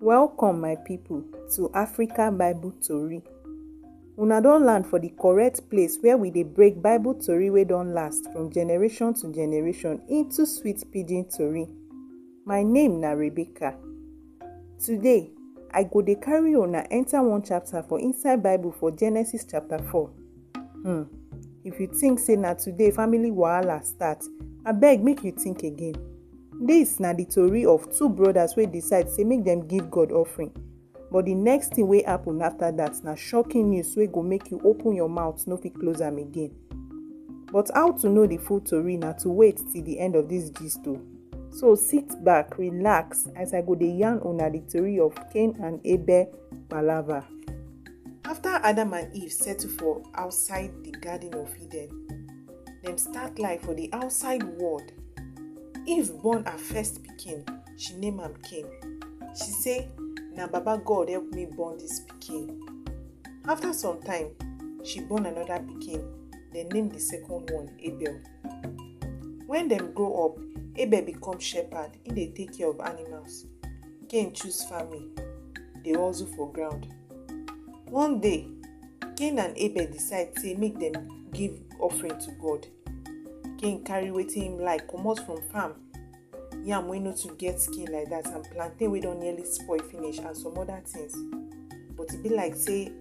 Welcome my people to Africa Bible Tori. Una don land for the correct place where we dey break Bible tori wey don last from generation to generation into sweet pidgin tori. My name na Rebecca. Today, I go dey carry una enter one chapter for inside Bible for Genesis chapter 4. Hmm. If you think say na today family wahala start, abeg make you think again. This na the tori of two brothers wey decide say make dem give God offering. But the next thing wey happen after that na shocking news wey go make you open your mouth no fit close am again. But how to know the full tori na to wait till the end of this gist o. So sit back, relax as I go dey yarn una the tori of Cain and Abel palava. After Adam and Eve settle for outside the Garden of Eden, dem start life for the outside world. Eve born her first pikin, she name am Cain. She say, Na Baba God help me born this pikin. After some time, she born another pikin, dem name the second one Abel. Wen dem grow up, Abel become shepherd, he dey take care of animals. Cain choose farming, he dey hustle for ground. One day, Cain and Abel decide sey make dem give offering to God. Cain carry wetin him like comot from farm, yam wey no too get skin like dat and plantain wey don nearly spoil finish and some other things but e be like sey e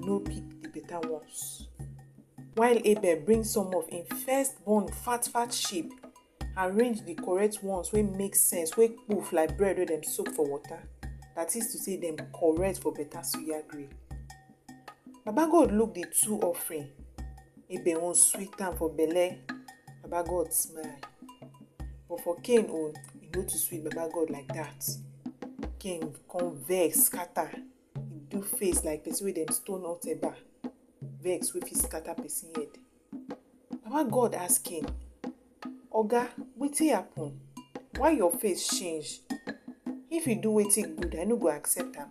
no pick the better ones. While Abel bring some of im firstborn fat fat sheep, arrange the correct ones wey make sense, wey poof like bread wey dem soak for water, that is to say dem correct for better suya grill. Baba God look the two offering, Abel own sweet am for belle, Baba God smile. But for Cain own, e no too sweet Baba God like that. Cain come vex scatter. Him do face like person wey dem stone hot eba, vex wey fit scatter person head. Baba God ask him, Oga, wetin happen? Why your face change? If you do wetin good, I no go accept am,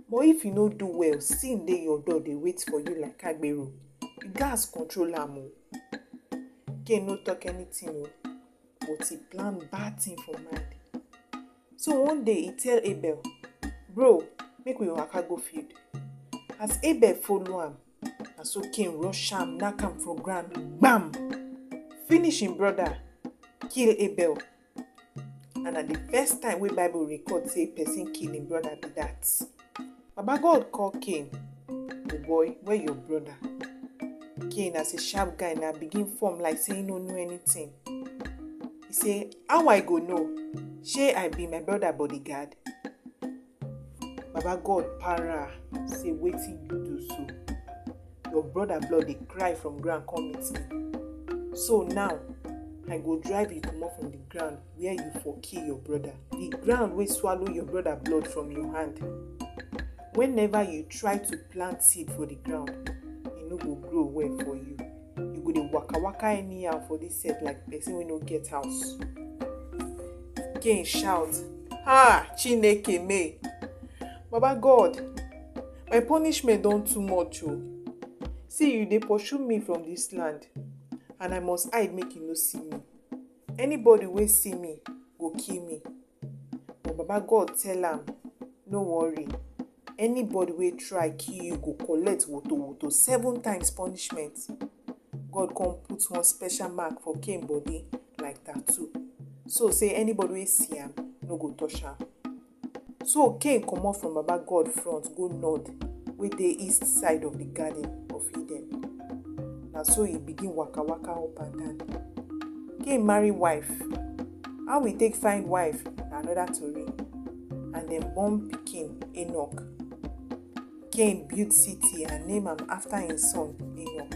but if you no do well, sin dey your door dey wait for you like agbero. You gats control am o. Cain no talk anything o, but he plan bad thing for mind. So one day e tell Abel, Bro, make we waka go field. As Abel follow am, na so Cain rush am, knack am for ground, gbam! Finish im brother, kill Abel. And na the first time wey Bible record say person kill im brother be that. Baba God call Cain, the boy wey your brother. Cain as a sharp guy na begin form like say he no know anything. He say, how I go know? Shey I be my brother bodyguard? Baba God para say wetin you do so? Your brother blood dey cry from ground come meet me. So now, I go drive you comot from the ground where you for kill your brother, the ground wey swallow your brother blood from your hand. Whenever you try to plant seed for the ground, e no go grow well for you. You go dey waka waka anyhow for this set like person wey no get house. Cain shout, Ha! Chineke me! Baba God, my punishment don too much o. See, you dey pursue me from this land, and I must hide make you no see me. Anybody wey see me go kill me. But Baba God tell am, No worry, anybody wey try kill you go collect woto woto seven times punishment. God come put one special mark for Cain body like tattoo. So say anybody wey see am no go touch am. So Cain comot from Baba God front go nod wey dey east side of the garden of Eden. Na so e begin waka waka up and down. Cain marry wife. How e take find wife na another tori. And dem born pikin Enoch. Cain build city and name am after im son Enoch.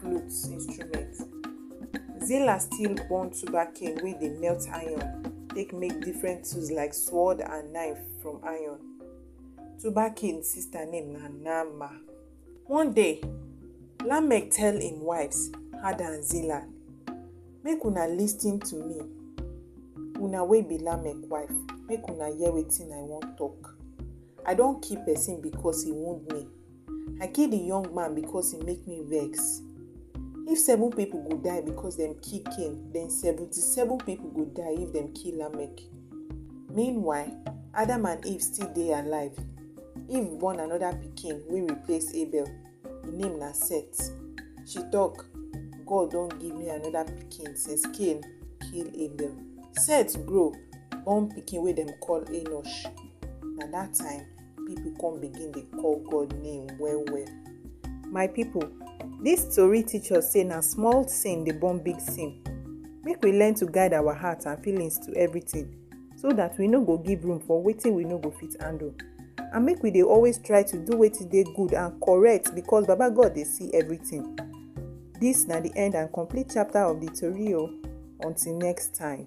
flute instrument. Zilla still born sugarcane wey dey melt iron take make different tools like sword and knife from iron. Tubal-Cain sister name na Naamah. One day, Lamech tell im wives, Hadad and Zillah, Make una lis ten to me, una wey be Lamech wife, make una hear wetin I wan talk. I don kill person because he wound me, I kill the young man because he make me vex. If seven people go die because them kill Cain, then seventy-seven people go die if them kill Lamech. Meanwhile, Adam and Eve still dey alive. Eve born another pikin wey replace Abel. Im name na Seth. She talk, God don give me another pikin since Cain kill Abel. Seth grow, born pikin wey dem call Enosh. Na that time people come begin dey call god name well well my people this story teach us say na small sin dey born big sin make we learn to guide our heart and feelings to everything so that we no go give room for wetin we no go fit handle and make we dey always try to do wetin dey good and correct because baba god dey see everything this na the end and complete chapter of the tori o until next time